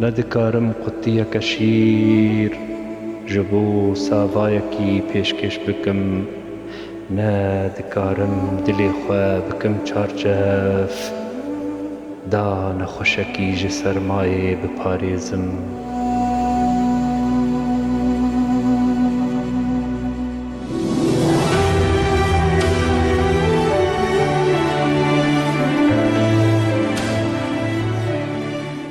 Nedikarim qutiyeke şîr ji bo savayekî pêşkêş bikim, ne dikarim dilê xwe bikim çarçev, da nexweşekî ji sermayê biparêzim.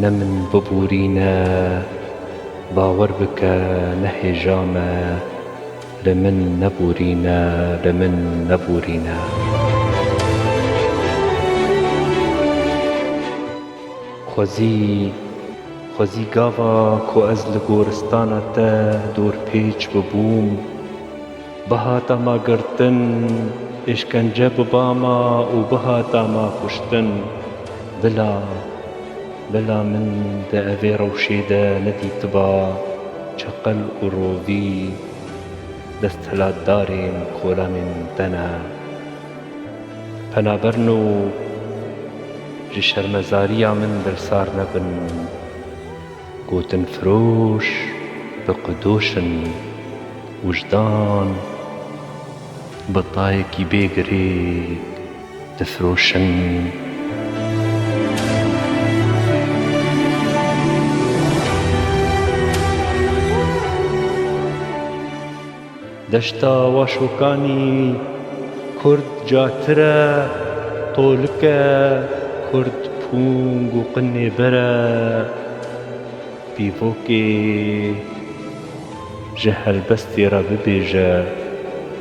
Ne min biborîne, bawer bike ne hêja me, li min neborîne, li min neborîne. Xwezî, xwezî gava ku ez li goristana te dorpêç bibûm. Bihata ma girtin, êşkence biba ma û bihata ma kuştin. Bila, bila min di evê rewşê de nedîtiba çeqel û rovî desthilatdarên kolanên te ne. Penaberin û ji şermezariya min dilsar nebin. Gotin firoş bi qidoş in. Wijdan bi tayekî bê girêk difiroşin. Deşta Waşokanî kurd catire, tolike kurd pûng û qinê bere, pîvokê ji helbestê re bibêje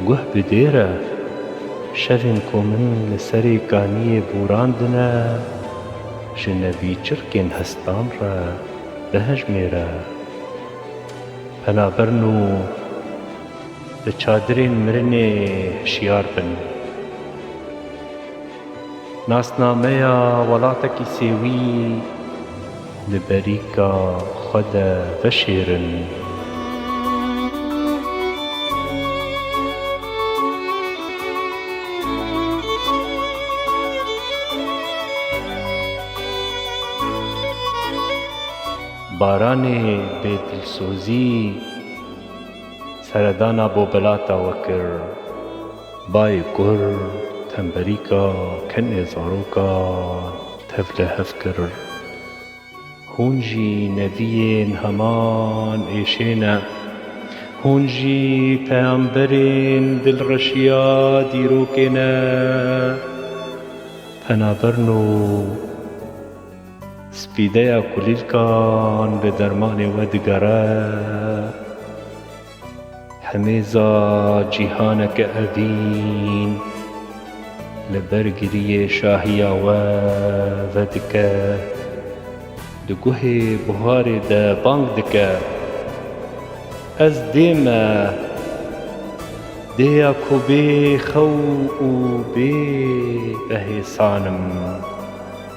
guh bi dêre, şevên ku min li serê kaniyê borandine ji nevî çirkên hestan re bihejmêre. Penaberin û li çadirên mirinê hişyar bin. Nasnameya welatekî sêwî li berîka xwe de veşêrin. Baranê bê dilsozî seredana bo belata we kir. Bayê kur temberîka kenê zarokan tevle hev kir. Hûn jî neviyên heman êşê ne. Hûn jî peyamberên dilreşiya dîrokê ne. Penaberin û. Spîdeya kulîlkan bi dermanê we digere. Hemêza cîhaneke evîn li ber giriyê şahiya we vedike. Di guhê buharê de bang dike, Ez dê me! Dê ya ku bê xew û bê behêsan im.